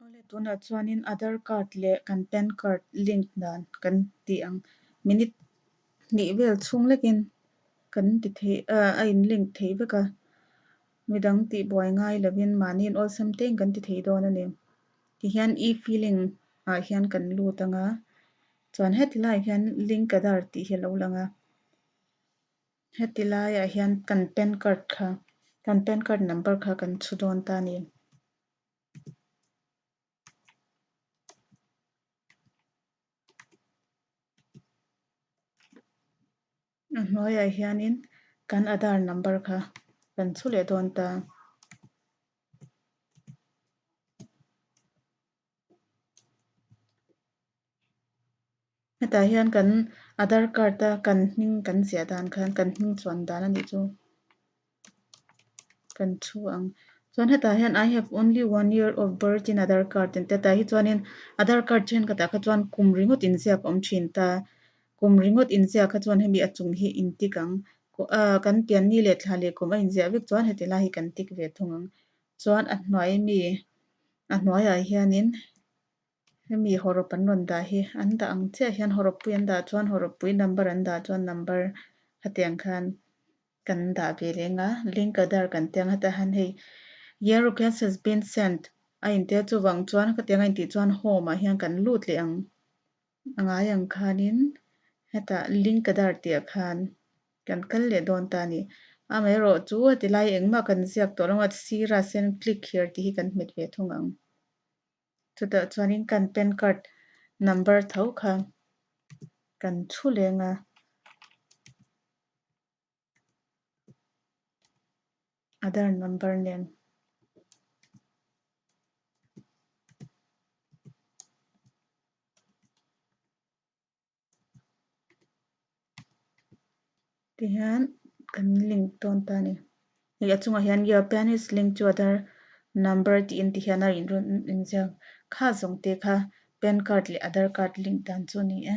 Awle tunah chuanin Aadhar card leh kan pan card link dan kan tih ang. Minute hnih vel chhung lekin kan ti theih a a in link theih vek a. Midang tih buai ngai lovin mahniin awlsam teiin kan ti thei dawn a ni. Tihian e-filing ah hian kan lut anga chuan heti laiah hian link Aadhar tih hi a lo lang a. Heti laiah hian kan pan card kha kan pan card number kha kan chhu dawn ta a ni. A hnuaiah hianin kan aadhar number kha kan chhu leh dawn ta a. hetah hian kan aadhar card a kan hming kan ziah dan khan kan hming chuan dan a nih chu kan thu ang chuan hetah hian i have only one year of birth in aadhar card tih te tah hi chuan in aadhar card then ka tah kha chuan kum ringawt in ziak a awm thin ta kum ringawt in ziak kha chuan hemi a chung hi in tik ang ah kan pian ni leh thla leh kum a in ziah vek chuan heti lai hi kan tik ve thung ang. Chuan a hnuai mi a hnuaiah hianin hemi hawrop an rawn dah hi an dah ang chiah hian hawropui an dah chuan hawropui number an dah chuan number hetiang khan kan dah ve leng a link aadhar kan tia ang heta hian hei Your request has been sent a intir chuvang chuan khatianga intih chuan home ah hian kan lut leh ang. A ngai ang khanin, Heta ling ka dar tihah khan kan kal leh dawn ta a ni. Amaherawh chu heti lai engmah kan ziak tawh lawma sira send click here tih hi kan hmet ve thung ang. Chutah chuanin kan pan card number tho kha kan thu leng a. Aadhar number nen te hian kan link dawn ta a ni ih a chungah hian your pan is linked to aadhar number tih in ti hian a rawn inziak kha zawng te kha pan card leh aadhar card link dan chu a ni e.